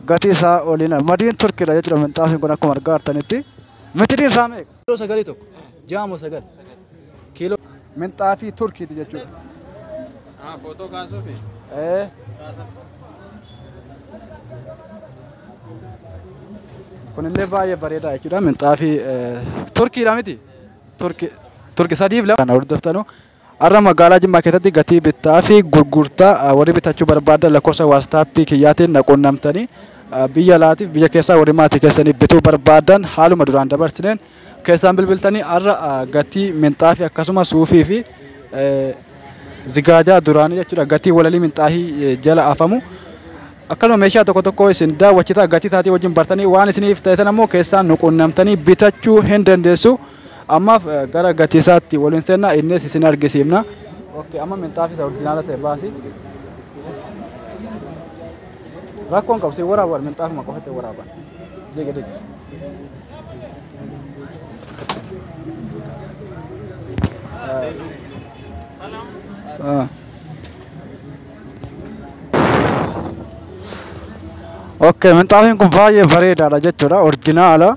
gatii isaa oliin madiin turkiidha jechuudha minxaafiin kun akkuma argaa jirtanitti mitiriin isaa meeqa? Kiiloo sagalii tokko ja'a moo sagal kiiloo minxaafii turkiiti jechuudha. Ah, footoo kaasuufi. Eh. Kunillee baay'ee bareedaa jechuudha minxaafii eh, turkiidha miti turki turki sadiif lama kana hordoftanu Har'a magaalaa Jimmaa keessatti gatii bittaa fi gurgurtaa warri bitachuu barbaadan lakkoofsa waastaappii kiyyaatiin na quunnamtanii biyya alaatiif biyya keessaa warri maatii keessanii bituu barbaadan haaluma duraan dabarsineen keessaan bilbiltanii har'a gatii minxaafii akkasuma suufii fi zigaajaa duraanii jechuudha gatii walalii minxaafii jala afamu akkasuma meeshaa tokko tokko isin daawwachitaa gatii isaatii wajjin bartanii waan isiniif ta'etan ammoo keessaan nu quunnamtanii bitachuu hin dandeessu. Ammaaf gara gatiisaatti wal hin seenna, innis isin argisiifna. Okay, amma minxaafi isa orjinaala ta'e baasi. Rakkoon qabu siin waraaban minxaafuma qofatti waraaban. Digi digi. Ah. Okay, minxaafiin kun baay'ee bareedaadha jechuudha. Orjinaala.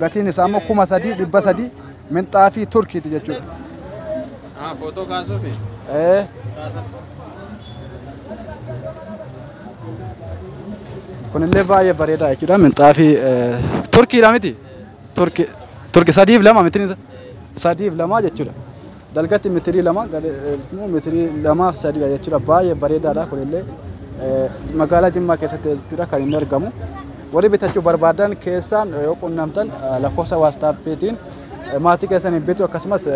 Gatiin isaa immoo kuma sadii dhibba sadii minxaafii Turkiiti jechuudha. Ah, footoo kaasuufi. Ee, Kaasa. kunillee baay'ee bareedaa jechuudha minxaafii eh, Turkiidha miti? Turki Turki sadiif lama mitiin isa? Sadiif lama jechuudha. Dalgatti mitirii lama gadheefmoo mitirii lamaaf sadiidha jechuudha. Baay'ee bareedaadha kunillee magaalaa Jimmaa keessatti jechuudha kan inni argamu. Warri bitachuu barbaadan keessaan yoo qunnamtan lakkoofsa waastaappiitiin maatii keessanii bitu akkasumas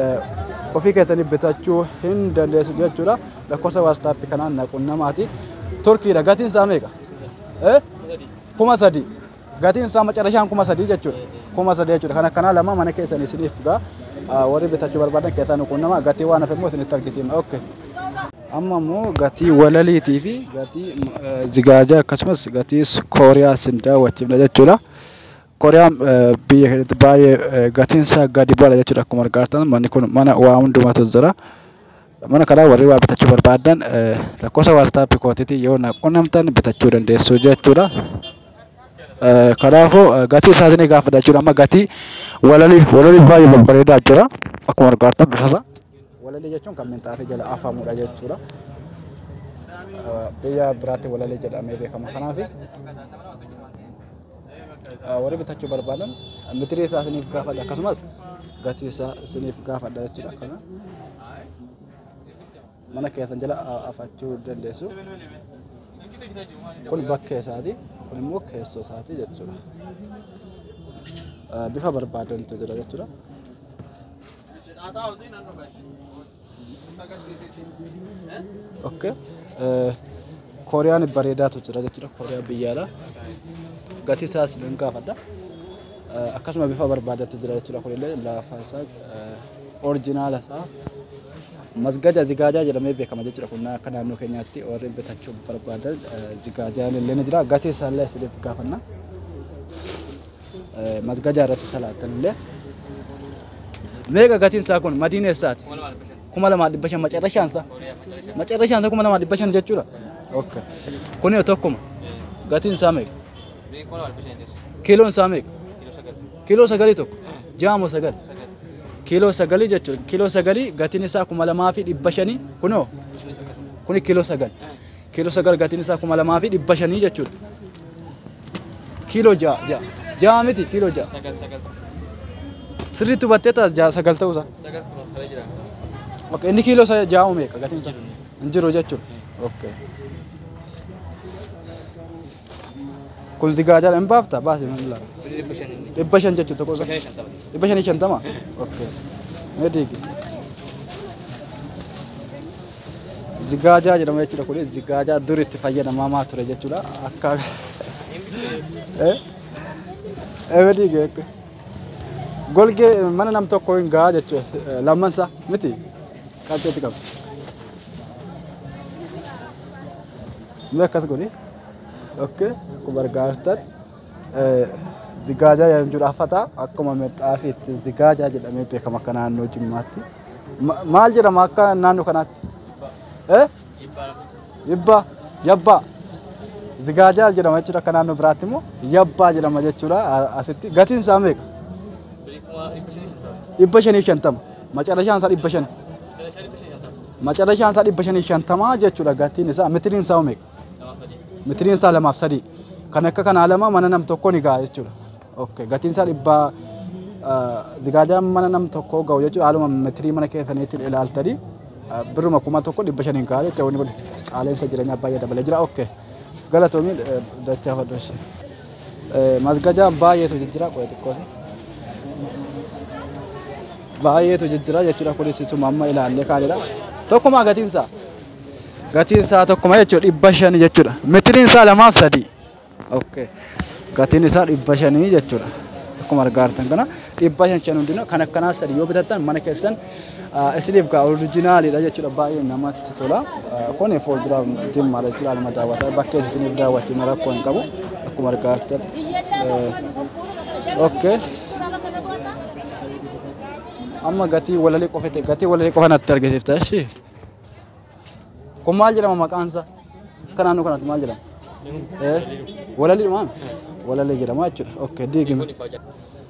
ofii keessanii bitachuu hin dandeessu jechuudha. Lakkoofsa waastaappii kanaan na qunnamaati. Turkiidha gatiin isaa meeqa? Kuma sadii. Gatiin isaa macarashaan kuma sadii jechuudha. Kuma sadii jechuudha. Kan akkanaa lama mana keessan isiniif gaa warri bitachuu barbaadan keessaa nu quunnama gatii waan hafe immoo isinitti argisiifna. Okay. Amma immoo gatii walaliitii fi gatii eh, zigaajaa akkasumas gatii kooriyaa isin daawwachiifna jechuudha. Kooriyaan eh, biyya keenyatti baay'ee eh, gatiin isaa gadi bu'aadha jechuudha akkuma argaa jirtan manni kun mana waa hundumatu jira. Mana kanaa warri waa bitachuu barbaaddan lakkoofsa WhatsApp kootiitiin yoo na qunnamtan bitachuu dandeessu jechuudha. Kanaafuu gatii isaa isinii gaafadha jechuudha. Amma gatii walalii walalii baay'ee babbareedaa jira. Akkuma argaatan bifa isaa. Walalii jechuun kan minxaafii jala afamudha jechuudha. Biyya biraatti walalii jedhamee beekama. Kanaaf warri bitachuu barbaadan mitirii isaa isiniif gaafadha akkasumas gatii isaa isiniif gaafadha jechuudha kana mana keessan jala afachuu dandeessu kun bakkee isaati kun immoo keessoo isaati jechuudha bifa barbaadantu jira jechuudha. Okay. Eh, Kooriyaan bareedaatu jira jechuudha. Kooriyaan biyyaadha. Gatii isaas nan gaafadha. Eh, Akkasuma bifa barbaadatu jira jechuudha. Kunillee lafa isaa eh, orjinaala isaa masgaja zigaajaa jedhamee beekama jechuudha. Kun akka naannoo keenyaatti warri bitachuu barbaadan eh, zigaajaan illee ni jira. Gatii isaallee isiniif gaafanna. masgadaa irratti salaattan illee meeqa gatiin isaa kun madiina eessaati kuma lamaa dhibba shan macarrashaan isaa macarrashaan isaa kuma lamaa dhibba shan jechuudha okay kun yoo tokkuma gatiin isaa meeqa kiiloon isaa meeqa kiiloo sagalii tokko jaamu sagal kiiloo sagalii jechuudha kiiloo sagalii gatiin isaa kuma lamaa fi dhibba shanii kunoo kuni kiiloo sagal Kiiloo sagal gatiin isaa kuma lamaa fi dhibba shanii jechuudha. Kiiloo ja'a ja'a ja'a miti kiiloo ja'a. Sagal sagal. Sirriitti hubattee ta'a ja'a sagal ta'uu isaa. Sagal kunuun kala jira. Ok inni kiiloo isaa ja'a uumeeka gatiin isaa. Hin jiru jechuudha. Ok. Kun si gaajala hin baafta baasi hin laala. Dhibba shan jechuun tokko isa. Dhibba shanii shantama. Okay. Mee diigi. Zigaajaa jedhama jechuudha kun zigaajaa dur itti fayyadamamaa ture jechuudha akka. Eh? Eh mee diigi. akka. Golgee mana nam tokko hin gahaa jechuudha lamman isaa miti qabxeetti qaba. Mee akkas godhi. Okay. Akkuma argaa jirtan eh, zigaajaa jedhamu jira afata akkuma mexxaafiitti zigaajaa jedhamee beekama akka naannoo Jimmaatti. Ma- Maal jedhama akka naannoo kanaatti? Eh? Yibba, yabbaa. Zigaajaa jedhama jechuudha akka naannoo biraatti immoo yabbaa jedhama jechuudha a- asitti. Gatiin isaa meeqa? Dhibba shanii fi shantama. Macarashaan isaa dhibba shani. Macarashaan isaa dhibba shanii shantamaa jechuudha gatiin isaa mitiriin isaa omeeqa? Mitiriin isaa lamaaf sadii. Kan akka kanaa lama mana nam tokkoo ni ga'a jechuudha. Okay. Gatiin isaa dhibba zigaadaan mana nam tokkoo ga'u jechuudha haaluma mitirii mana keessaniitiin ilaaltanii birruma kuma tokko dhibba shaniin ga'a jechuudha wanni kun qaala'insa jireenyaa baay'ee dabalee jira. Okay. Galatoomii dachaa fadhoo ishee. Masgajaa baay'eetu jijjira qo'e xiqqoos. Baay'eetu jijjira jechuudha kunis isuma amma ilaallee kaanidha. Tokkuma gatiin isaa. Gatiin isaa tokkuma jechuudha dhibba shanii jechuudha. Mitiriin isaa lamaaf sadii. Okay. Gatiin isaa dhibba shanii jechuudha. Akkuma argaa jirtan kana dhibba shan shan hundinuu kan akkanaa sadii yoo bitattan mana keessan Isiniif gaa orijinaaliidha jechuudha baay'ee namatti tola. Kun fuuldura jimmaadha jechuudha aluma daawwataa bakkee isiniif daawwachuun rakkoo hin qabu akkuma argaattan. Okkee. Amma gatii walalii qofa ta'e gatii walalii qofa natti argisiifta ishii. Kun maal jedhama maqaan isaa? Akka naannoo kanatti maal jedhama? Walalii maal? Walalii jedhama jechuudha. Okkee diigime.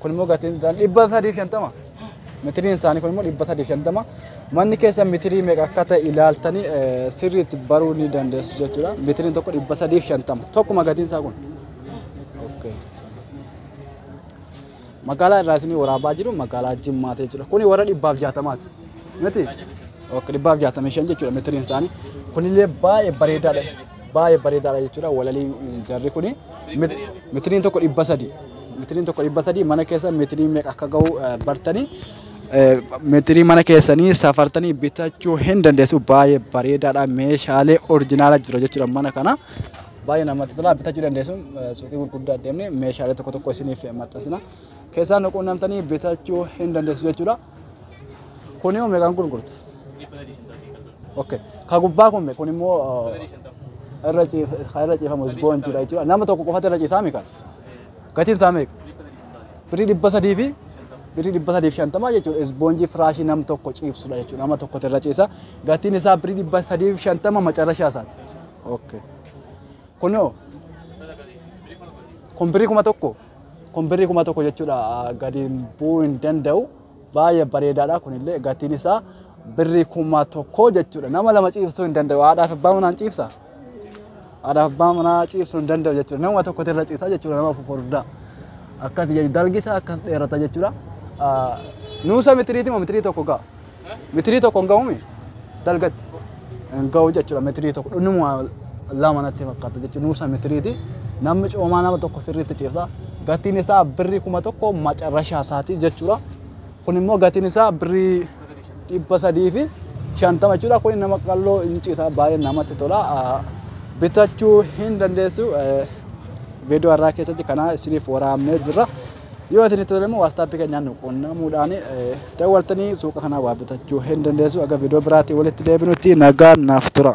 Kun immoo gatiin isaanii dhibba sadii fi shantama. Mitiriin isaanii kun immoo dhibba sadii fi shantama. Manni keessan mitirii meeqa akka ta'e ilaaltanii eh, sirriitti baruu ni dandeessu jechuudha. Mitiriin tokko dhibba sadii fi shantama. Tokkuma gatiin isaa kun. Okay. Magaalaa irraa isinii waraabaa jiru magaalaa Jimmaati jechuudha. Kuni warra dhibbaaf jaatamaati. Miti? Ok, dhibbaaf jaatamii shan jechuudha mitiriin isaanii. Kunillee baay'ee bareedaadha. baay'ee bareedaadha jechuudha walalii jarri kuni mitiriin tokko dhibba sadii mitiriin tokko dhibba sadii mana keessa mitirii meeqa akka ga'u bartanii mitirii mana keessanii safartanii bitachuu hin dandeessu baay'ee bareedaadha meeshaalee orjinaala jira jechuudha mana kana baay'ee namatti tola bitachuu dandeessu suuqii gurguddaa deemnee meeshaalee tokko tokko isiniif maxxansina keessaa nuquunnamtanii bitachuu hin dandeessu jechuudha. Kuni hoo meeqaan gurgurta? Okay. Ka gubbaa kun me kun immoo uh, irra ciif ka irra ciifamu isboon jira jechuudha. Nama tokko qofatu irra ciisaa meeqa? Gatiin isaa meeqa? Birrii dhibba sadii fi birrii dhibba sadii fi shantamaa jechuudha. Isboonjii firaashii nam tokko ciibsudha jechuudha. Nama tokkotu irra ciisa. Gatiin isaa birrii dhibba sadii fi shantama macarashaa isaati. Okay. Kun hoo? Kun birrii kuma tokko? Kun birrii kuma tokko jechuudha gadi bu'uu hin danda'u. Baay'ee bareedaadha kunillee gatiin isaa birrii kuma tokko jechuudha. Nama lama ciibsuu hin danda'u. Haadhaaf abbaa manaan ciibsa. Haadhaaf abbaa manaa ciibsuu hin danda'u jechuudha. Nama tokkotu irra ciisa jechuudha nama fufurdaa. Akkas dalgi isaa akkas dheerata jechuudha. Nuusa mitiriiti moo mitirii tokko ga'a? Mitirii tokko hin ga'uumi dalgatti. Hin ga'u jechuudha mitirii tokko dhunuma lama natti fakkaata jechuudha nuusa mitiriiti. Namni coomaa nama tokko sirriitti ciibsa. Gatiin isaa birrii kuma tokko macarrashaa isaati jechuudha. Kun immoo gatiin isaa birrii dhibba sadii fi shantama jechuudha. Kun nama qalloo hin ciisa baay'ee namatti tola. Bitachuu hin dandeessu. Viidiyoo har'aa keessatti kanaa isiniif waraabnee jirra. Yoo isin tole immoo waastaappi keenyaan nu quunnamuudhaan dawwaltanii suuqa kanaa waa bitachuu hin dandeessu. Aga viidiyoo biraatiin walitti deebinutti nagaan naaf tura.